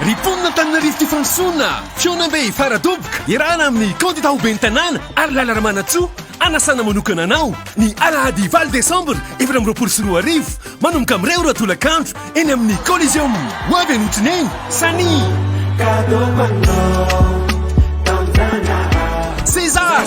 Ry mponina Antananarivo tia fandrosoana, Fihaonambe Faradoboka, iarahana amin'ny kandida ho ben'ny tanàna ary Lala Ramanantsoa, anasana manokana anao ny alahady valo desambra efatra amby roapolo sy roa arivo, manomboka amin'ny iray ora tolakandro eny amin'ny Coliseum. Ho avy any Otsineny, Sani. César.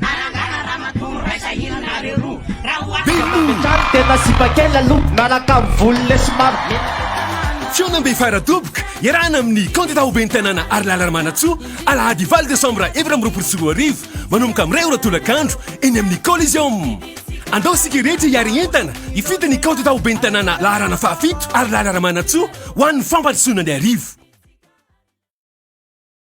Narangana ramatoa miraisa hira nareo roa raha ho ahy. Mba metrany tena sipa kely aloha miaraka amin'ny volo le somary mena. Fihaonambe fara-doboka iarahana amin'ny kandida ho ben'ny tanàna Harilala Ramanantsoa, alahady valo desambra efatra amby roapolo sy roa arivo, manomboka amin'ny iray ora tolakandro, eny amin'ny Coliseum. Andao isika rehetra hiary entana hifidy ny kandida ho ben'ny tanàna laharana fahafito Harilala Ramanantsoa ho an'ny fampandrosoana ny arivo.